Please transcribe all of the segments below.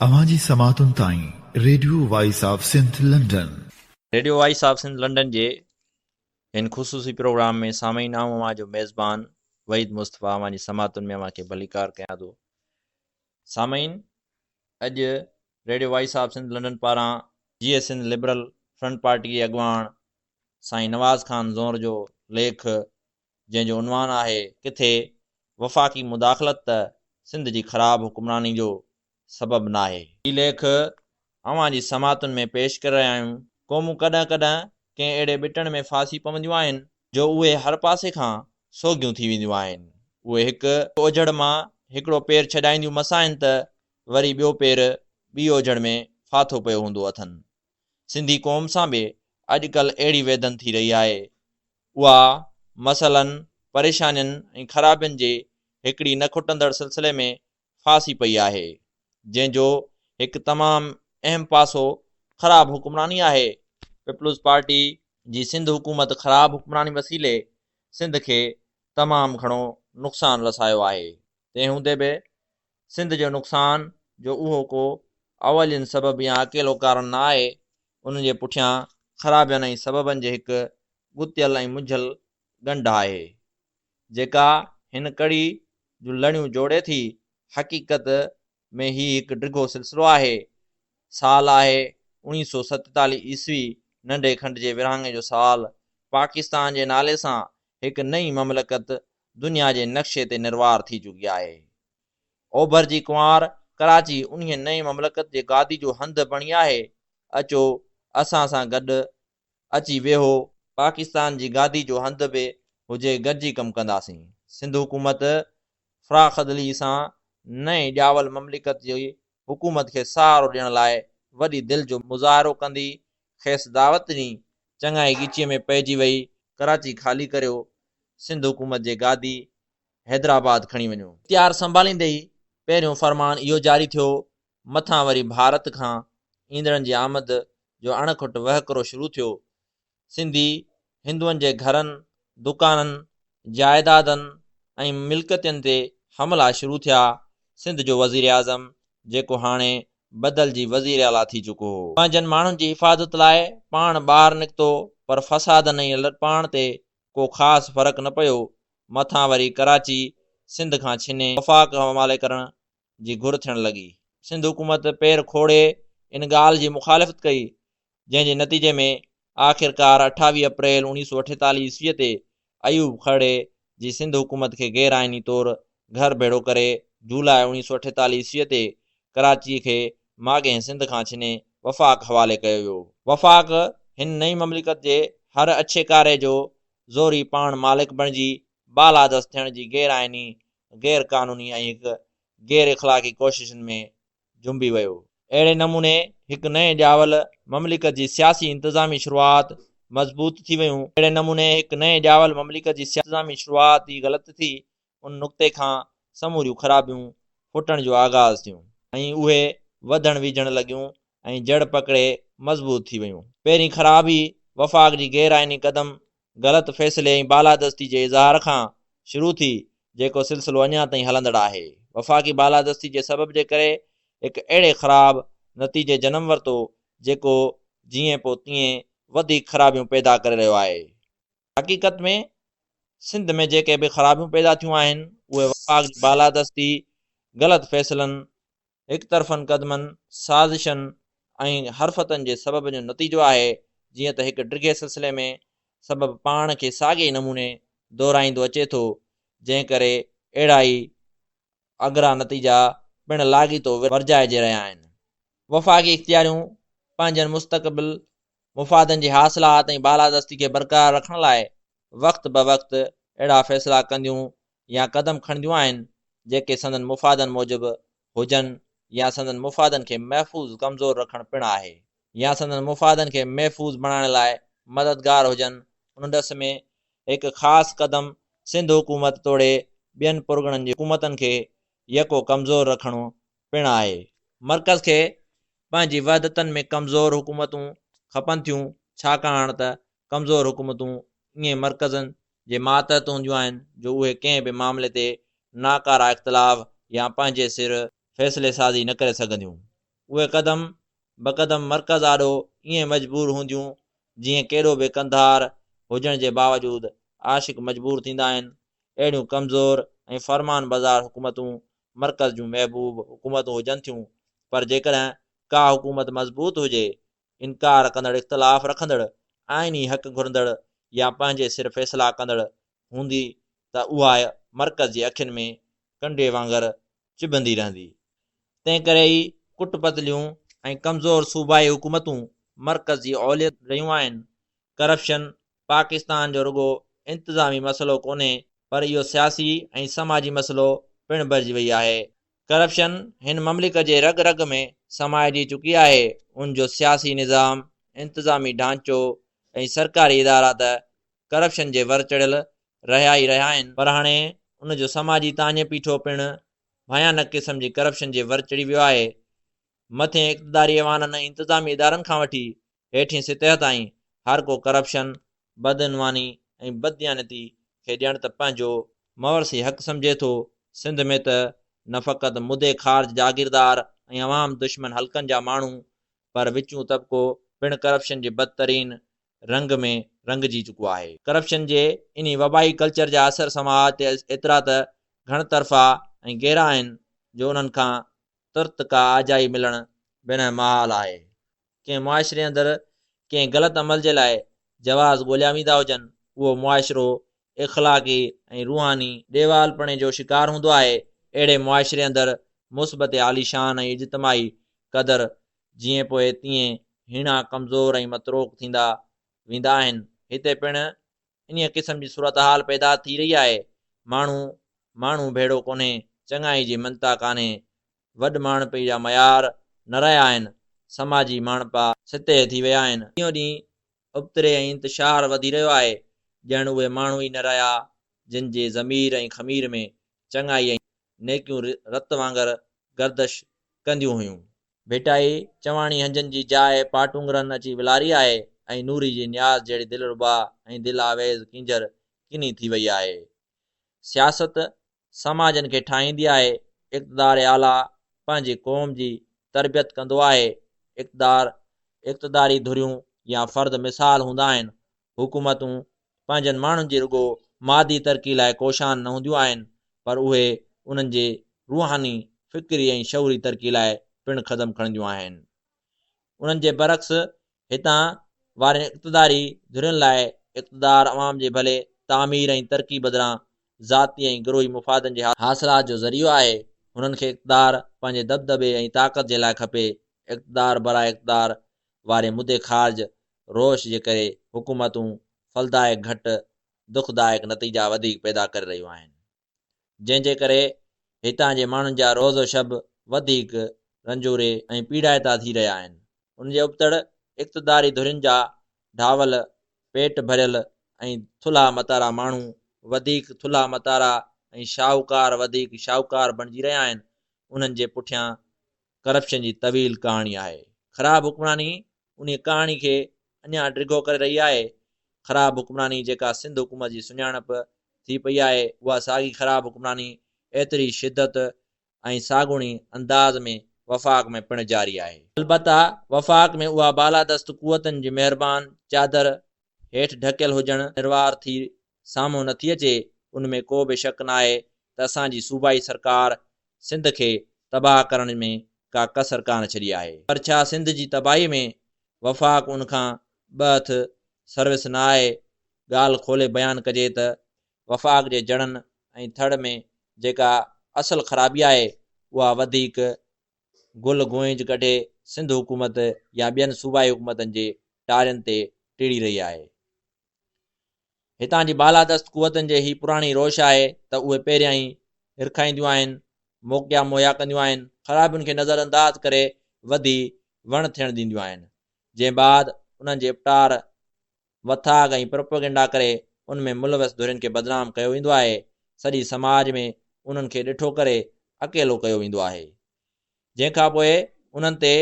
اوهان جي سماعتن تائين radio voice of Sindh London. Radio voice of Sindh London جي هن خصوصي پروگرام ۾ سامعين آئون اوهان جو ميزبان وحيد مصطفيٰ اوهان جي سماعتن ۾ اوهان کي ڀليڪار ڪيان ٿو سامعين اڄ radio voice of Sindh London پاران Jeay Sindh liberal front party جي اڳواڻ سائين نواز خان زونر جو ليک جنهن جو عنوان آهي ڪٿي وفاقي مداخلت ته سنڌ جي خراب حڪمراني جو سبب ناهي. هي ليک اوهان جي سماعتن ۾ پيش ڪري رهيا آهيون. قومون ڪڏهن ڪڏهن ڪنهن اهڙي ٻٽڻ ۾ ڦاسي پونديون آهن جو اهي هر پاسي کان سوگهيون ٿي وينديون آهن. اهي هڪ اوجهڙ مان هڪڙو پير ڇڏائينديون مس آهن ته وري ٻيو پير ٻي اوجهڙ ۾ ڦاٿو پيو هوندو اٿن. سنڌي قوم سان به اڄڪلهه اهڙي ويڌن ٿي رهي آهي. اها مسئلن، پريشانين ۽ خرابين جي هڪڙي نه کٽندڙ سلسلي ۾ ڦاسي پئي آهي، جنهن جو هڪ تمام اهم پاسو خراب حڪمراني آهي. پيپلز پارٽي جي سنڌ حڪومت خراب حڪمراني وسيلي سنڌ کي تمام گهڻو نقصان رسايو آهي، تنهن هوندي به سنڌ جو نقصان جو اهو ڪو اولين سبب يا اڪيلو ڪارڻ نه آهي، ان جي پٺيان خرابين ۽ سببن جي هڪ ڳتيل ۽ منجهيل ڳنڍ آهي، جيڪا هن ڪڙي جون لڻيون جوڙي ٿي، حقيقت ۾ هي هڪ ڊگهو سلسلو آهي، سال آهي اوڻيهه سؤ ستيتاليهه عيسوي، ننڍي کنڊ جي ورهاڱي جو سال، پاڪستان جي نالي سان هڪ نئين مملڪت دنيا جي نقشي تي نروار ٿي چڪي آهي. اوڀر جي ڪنوار ڪراچي انهيء نئين مملڪت جي گادي جو هنڌ بڻي آهي. اچو، اسان سان گڏ اچي ويهو. پاڪستان جي گادي جو هنڌ به هجي گڏجي ڪم ڪنداسين. سنڌ حڪومت فراخدلي سان نئين ڄاول مملڪت جي حڪومت کي سهارو ڏيڻ لاء وڏي دل جو مظاهرو ڪندي کيس دعوت ڏني، چڱائي ڳچيء ۾ پئجي وئي، ڪراچي خالي ڪريو، سنڌ حڪومت جي گادي حيدرآباد کڻي وڃو. اختيار سنڀاليندي ئي پهريون فرمان اهو جاري ٿيو، مٿان وري ڀارت کان ايندڙن جي آمد جو اڻ کٽ وهڪرو شروع ٿيو، سنڌي هندوئن جي گهرن، دڪانن، جائيدادن ۽ ملڪيتن تي حملا شروع ٿيا، سنڌ جو وزيراعظم جيڪو هاڻي بدلجي وزيراعليٰ ٿي چڪو هو. پنهنجن ماڻهن جي حفاظت لاء پاڻ ٻاهر نڪتو پر فسادن ۽ لڏپلاڻ تي ڪو خاص فرق نه پيو، مٿان وري ڪراچي سنڌ کان ڇني وفاق حوالي ڪرڻ جي گهر ٿيڻ لڳي. سنڌ حڪومت پير کوڙي ان ڳالهه جي مخالفت ڪئي جنهن جي نتيجي ۾ آخرڪار اٺاويهه اپريل اوڻيهه سؤ اٺيتاليهه عيسويء تي ايوب کهڙي جي سنڌ حڪومت کي غير آئيني طور گهر ڀيڙو ڪري جولاء اوڻيهه سؤ اٺيتاليهه عيسويء تي ڪراچيء کي ماڳهين سنڌ کان ڇني وفاق حوالي ڪيو ويو هو. وفاق هن نئين مملڪت جي هر اڇي ڪاري جو زوري پاڻ مالڪ بڻجي بالادست ٿيڻ جي غير آئيني، غير قانوني ۽ هڪ غير اخلاقي ڪوششن ۾ جنبي ويو. اهڙي نموني هڪ نئين ڄاول مملڪت جي سياسي انتظامي شروعات مضبوط ٿي ويون. اهڙي نموني هڪ نئين ڄاول مملڪت جي سياسي انتظامي شروعات ئي غلط ٿي. ان نقطي کان سموريون خرابيون ڦٽڻ جو آغاز ٿيون ۽ اهي وڌڻ ويجهڻ لڳيون ۽ جڙ پڪڙي مضبوط ٿي ويون. پهرين خرابي وفاق جي غير آئيني قدم غلط فيصلي ۽ بالادستي جي اظهار کان شروع ٿي جيڪو سلسلو اڃا تائين هلندڙ آهي. وفاقي بالادستي جي سبب جي ڪري هڪ اهڙي خراب نتيجي جنم ورتو جيڪو جيئن پوء تيئن وڌيڪ خرابيون پيدا ڪري رهيو آهي. حقيقت ۾ سنڌ ۾ جيڪي به خرابيون پيدا ٿيون آهن اهي وفاق جي بالادستي، غلط فيصلن هڪ طرفن قدمن، سازشن ۽ حرفتن جي سبب جو نتيجو آهي، جيئن ته هڪ ڊگهي سلسلي ۾ سبب پاڻ کي ساڳئي نموني دهرائيندو اچي ٿو، جنهن ڪري اهڙا ئي اگرا نتيجا پڻ لاڳيتو ورجائجي رهيا آهن. وفاقي اختياريون پنهنجن مستقبل مفادن جي حاصلات ۽ بالادستي کي برقرار رکڻ لاء وقت بوقت اهڙا فيصلا ڪنديون يا قدم کڻنديون آهن جيڪي سندن مفادن موجب هجن يا سندن مفادن کي محفوظ ڪمزور رکڻ پڻ آهي يا سندن مفادن کي محفوظ بڻائڻ لاء مددگار هجن. ان ڏس ۾ هڪ خاص قدم سنڌ حڪومت توڙي ٻين پرڳڻن جي حڪومتن کي يڪو ڪمزور رکڻو پڻ آهي. مرڪز کي پنهنجي وحدتن ۾ ڪمزور حڪومتون کپن ٿيون ڇاڪاڻ ته ڪمزور حڪومتون ايئن مرڪزن جي ماتحت هونديون آهن جو اهي ڪنهن به معاملي تي ناڪاره اختلاف يا پنهنجي سر فيصلي سازي نه ڪري سگهنديون. اهي قدم بقدم مرڪز آڏو ائين مجبور هونديون جيئن ڪيڏو به قنڌار هجڻ جي باوجود عاشق مجبور ٿيندا آهن. اهڙيون ڪمزور ۽ فرمان بردار حڪومتون مرڪز جون محبوب حڪومتون هجن ٿيون پر جيڪڏهن ڪا حڪومت مضبوط هجي انڪار ڪندڙ اختلاف رکندڙ، آئيني حق گهرندڙ يا پنهنجي سر فيصلا ڪندڙ هوندي ته اها مرڪز جي اکين ۾ ڪنڊي وانگر چڀندي رهندي. تنهنڪري ئي ڪٽ پتليون ۽ ڪمزور صوبائي حڪومتون مرڪز جي اوليت رهيون آهن. ڪرپشن پاڪستان جو رڳو انتظامي مسئلو ڪونهي پر اهو سياسي ۽ سماجي مسئلو پڻ بڻجي وئي آهي. ڪرپشن هن مملڪ جي رڳ رڳ ۾ سمائجي چڪي آهي، ان جو سياسي نظام، انتظامي ڍانچو ۽ سرڪاري ادارا ته ڪرپشن جي ور چڙهيل رهيا ئي رهيا آهن، پر هاڻي ان جو سماجي تاڃي پيٺو پڻ ڀيانڪ قسم جي ڪرپشن جي ور چڙهي ويو آهي، مٿين اقتداري ايوانن ۽ انتظامي ادارن کان وٺي هيٺين سطح تائين هر ڪو ڪرپشن، بدعنواني ۽ بدديانتي کي ڄڻ ته پنهنجو موروثي حق سمجهي ٿو، سنڌ ۾ ته نه فقط مدي خارج جاگيردار ۽ عوام دشمن حلقن جا ماڻهو پر وچون طبقو پڻ ڪرپشن جي بدترين رنگ ۾ رنگجي چڪو آهي. ڪرپشن جي انهي وبائي ڪلچر جا اثر سماج تي ايترا ته گهڻ طرفا ۽ گهرا آهن جو انهن کان ترت ڪا آجائي ملڻ بنهه محال آهي. ڪنهن معاشري اندر ڪنهن غلط عمل جي لاء جواز ڳوليا ويندا هجن، اهو معاشرو اخلاقي ۽ روحاني ڏيوالپڻي جو شڪار هوندو آهي، اهڙي معاشري اندر مثبت عاليشان ۽ اجتماعي قدر جئين پوء تيئن هيڻا ڪمزور ۽ متروڪ ٿيندا ويندا آهن، هتي پڻ انهيء قسم جي صورتحال پيدا ٿي رهي آهي، ماڻهو ماڻهو ڀيڙو ڪونهي، چڱائي جي مڃتا ڪانهي، وڏ ماڻهپي جا معيار نه رهيا آهن، سماجي ماڻهپا سطح ٿي ويا آهن، ڏينهون ڏينهن ابتڙي ۽ انتشار وڌي رهيو آهي، ڄڻ اهي ماڻهو ئي نه رهيا جن جي ضمير ۽ خمير ۾ چڱائي ۽ نيڪيون رت وانگر گردش ڪنديون هيون. ڀيٽائي چواڻي هنجن جي جاء پاٽونگرن اچي ولاري آهي ۽ نوري جي نياز جهڙي دلربا ۽ دل آويز ڪينجهر ڪني ٿي وئي آهي. سياست سماجن کي ٺاهيندي آهي، اقتدار اعليٰ پنهنجي قوم جي تربيت ڪندو آهي، اقتدار اقتداري ڌريون يا فرد مثال هوندا آهن، حڪومتون پنهنجن ماڻهن جي رڳو مادي ترقي لاء ڪوشان نه هونديون آهن پر اهي انهن جي روحاني، فڪري ۽ شعوري ترقي لاء پڻ قدم کڻنديون آهن. انهن جي برعڪس هتان وارين اقتداري ڌرين لاء اقتدار عوام جي ڀلي، تعمير ۽ ترقي بدران ذاتي ۽ گروهي مفادن جي حاصلات جو ذريعو آهي، هنن کي اقتدار پنهنجي دٻدٻي ۽ طاقت جي لاء کپي، اقتدار براء اقتدار واري مدي خارج روش جي ڪري حڪومتون ڦلدائڪ گهٽ، دکدائڪ نتيجا وڌيڪ پيدا ڪري رهيون آهن. جنهن جي ڪري هتان جي ماڻهن جا روز و شب وڌيڪ رنجوري ۽ پيڙائتا ٿي رهيا آهن. ان جي ابتڙ اقتداري ڌرين جا ڍاول، پيٽ ڀريل ۽ ٿلها متارا ماڻهو وڌيڪ ٿلها متارا ۽ شاهوڪار وڌيڪ شاهوڪار بڻجي رهيا آهن. انهن جي پٺيان ڪرپشن جي طويل ڪهاڻي آهي. خراب حڪمراني انهيء ڪهاڻي کي اڃا ڊگهو ڪري رهي آهي. خراب حڪمراني جيڪا سنڌ حڪومت جي سڃاڻپ ٿي پئي آهي، اها ساڳي خراب حڪمراني ايتري شدت ۽ ساڳوڻي انداز ۾ وفاق ۾ پڻ جاري آهي. البته وفاق ۾ اها بالادست قوتن جي مهربان چادر هيٺ ڍڪيل هجڻ نروار ٿي سامهون نٿي اچي ان ۾ ڪو به شڪ ناهي ته اسان جي صوبائي سرڪار سنڌ کي تباهه ڪرڻ ۾ ڪا ڪسر ڪانه ڇڏي آهي پر ڇا سنڌ جي تباهي ۾ وفاق ان کان ٻه هٿ سروس نه آهي ڳالهه کولي بيان ڪجي ته وفاق جي جڙن ۽ ٿڙ ۾ جيڪا اصل خرابي آهي اها وڌيڪ گل گونج ڪڍي سنڌ حڪومت يا ٻين صوبائي حڪومتن جي ٽارين تي ٽڙي رهي آهي هتان جي بالادست قوتن جي هي پراڻي روش آهي ته اهي پهريان ئي هرکائينديون آهن، موقعا مهيا ڪنديون آهن، خرابين کي نظر انداز ڪري وڌي وڻ ٿيڻ ڏينديون آهن، جنهن بعد انهن جي اپٽار، وٿاڳ ۽ پروپيگنڊا ڪري ان ۾ ملوث ڌرين کي بدنام ڪيو ويندو آهي، سڄي سماج ۾ انهن کي ڏٺو ڪري اڪيلو ڪيو ويندو آهي. جنهن کان پوء انهن تي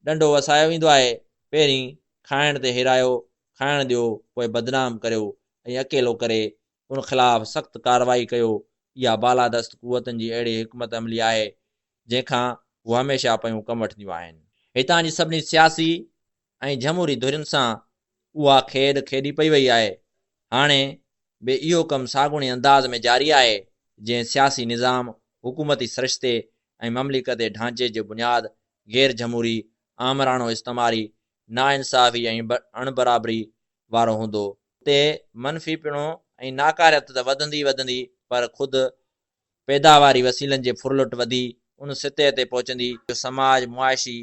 ڏنڊو وسايو ويندو آهي، پهرين کائڻ تي هيرايو، کائڻ ڏيو، پوء بدنام ڪريو ۽ اڪيلو ڪري ان خلاف سخت ڪارروائي ڪيو، اها بالادست قوتن جي اهڙي حڪمت عملي آهي، جنهن کان هو هميشه پيون ڪم وٺنديون آهن. هتان جي سڀني سياسي، ۽ جھموري ڌرين سان اها کيڏ کيڏي پئي وئي آهي. هاڻي به اهو ڪم ساڳوڻي انداز ۾ جاري آهي، جئين سياسي نظام، حڪومتي سرشتي ۽ مملڪتي ڍانچي جي بنياد غير جھموري، آمراڻو استعماري، ناانصافي ۽ اڻبرابري وارو هوندو، تي منفي پڻو ۽ ناڪاريت ته وڌندي ئي وڌندي پر خود پيداواري وسيلن جي ڦرلٽ وڌي ان سطح تي پهچندي جو سماج معاشي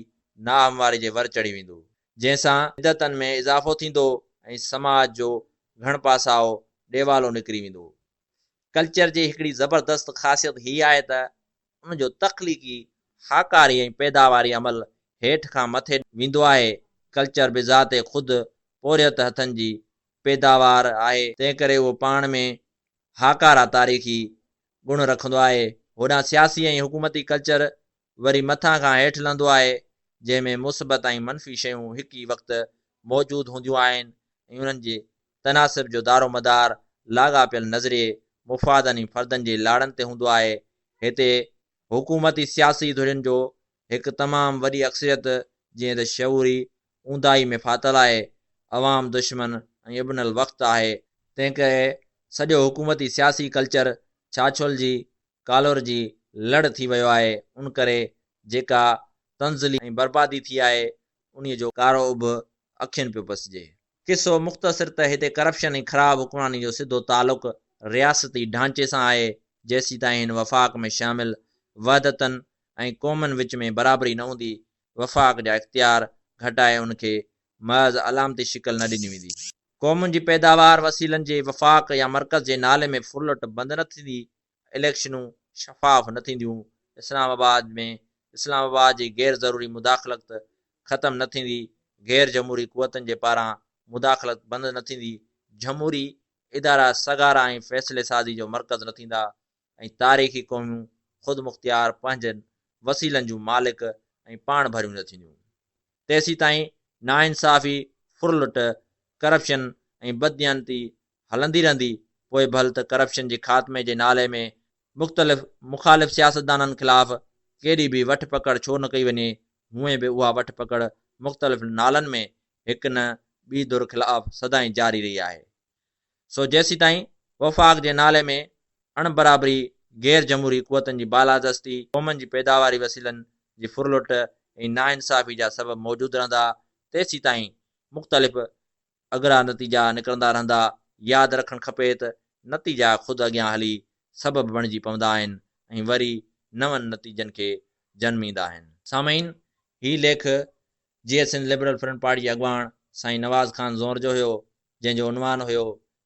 ناهمواري جي ور چڙهي ويندو، جنهن سان بدعتن ۾ اضافو ٿيندو ۽ سماج جو گهڻ پاسائو ڏيوالو نڪري ويندو. ڪلچر جي هڪڙي زبردست خاصيت هي آهي ته ان جو تخليقي، هاڪاري ۽ پيداواري عمل هيٺ کان مٿي ويندو آهي. ڪلچر بذات خود پورهيت هٿن جي پيداوار آهي، تنهنڪري اهو پاڻ ۾ هاڪارا تاريخي گڻ رکندو آهي. هوڏانهن سياسي ۽ حڪومتي ڪلچر وري مٿان کان هيٺ لهندو آهي، جنهن ۾ مثبت ۽ منفي شيون هڪ ئي وقت موجود هونديون آهن ۽ انهن جي تناسب جو دارومدار لاڳاپيل نظرئي، مفادن ۽ فردن جي لاڙن تي هوندو آهي. هتي حڪومتي سياسي ڌرين جو هڪ تمام وڏي اڪثريت جنهن ته شعوري اونداهي ۾ ڦاٿل آهي عوام دشمن ۽ ابن الوقت آهي، تنهن ڪري سڄو حڪومتي سياسي ڪلچر ڇاڇول جي ڪالور جي لڙ ٿي ويو آهي ان ڪري جيڪا تنزلي ۽ بربادي ٿي آهي انهي جو ڪارو اڀ اکين پيو پسجي. قصو مختصر ته هتي ڪرپشن ۽ خراب حڪمراني جو سڌو تعلق رياستي ڍانچي سان آهي جيسيتائين هن وفاق ۾ شامل وحدتن ۽ قومن وچ ۾ برابري نه هوندي، وفاق جا اختيار گهٽائي ان کي محض علامتي شڪل نه ڏني ويندي. قومن جي پيداوار وسيلن جي وفاق يا مرڪز جي نالي ۾ ڦرلٽ بند نه ٿيندي، اليڪشنون شفاف نه ٿينديون، اسلام آباد ۾ اسلام آباد جي غير ضروري مداخلت ختم نه ٿيندي، غير جمهوري قوتن جي پاران مداخلت بند نه ٿيندي، جمهوري ادارا سگهارا ۽ فيصلي سازي جو مرڪز نه ٿيندا، ۽ تاريخي قوميون خودمختيار پنهنجن وسيلن جون مالڪ ۽ پاڻ ڀريون نه ٿينديون تيسيتائين ناانصافي، ڦرلٽ، ڪرپشن ۽ بدديانتي هلندي رهندي پوء ڀل ته ڪرپشن جي خاتمي جي نالي ۾ مختلف مخالف سياستدانن خلاف ڪيڏي به وٺ پڪڙ ڇو نه ڪئي وڃي هونئن به اها وٺ پڪڙ مختلف نالن ۾ هڪ نه ٻي ڌر خلاف سدائين جاري رهي آهي. سو جيسيتائين وفاق جي نالي ۾ اڻ برابري، غير جمهوري قوتن جي بالادستي، قومن جي پيداواري وسيلن جي ڦرلٽ ۽ ناانصافي جا سبب موجود رهندا، تيسيتائين مختلف اگرا نتيجا نڪرندا رهندا. ياد رکڻ کپي ته نتيجا خود اڳيان هلي سبب بڻجي پوندا آهن ۽ وري نون نتيجن کي جنميندا آهن. سامعين! هي ليک Jeay Sindh liberal front party جي اڳواڻ سائين نواز خان زونر جو هيو، جنهن جو عنوان هيو،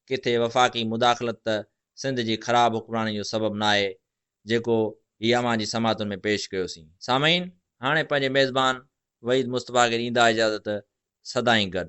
ڪٿي وفاقي مداخلت ته سنڌ جي خراب حڪمراني جو سبب ناهي، جيڪو هي اوهان جي سماعتن ۾ پيش ڪيوسين. سامعين! هاڻي پنهنجي ميزبان وحيد مصطفيٰ کي ڏيندا اجازت، سدائين گڏ.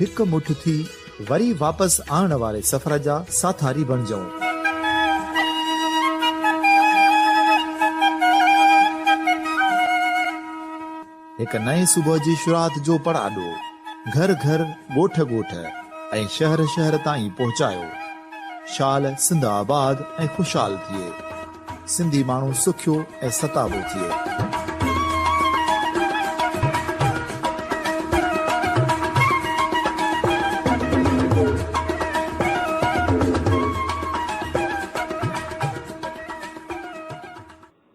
هڪ مٺ ٿي وري واپس آڻڻ واري سفر جا ساٿاري بڻجئون. هڪ نئين صبح جي شروعات جو پڙاڏو گهر گهر، ڳوٺ ڳوٺ ۽ شهر شهر تائين پهچايو. شال سنڌ آباد ۽ خوشحال ٿئي. سنڌي ماڻهو سکيو ۽ ستابو ٿئي.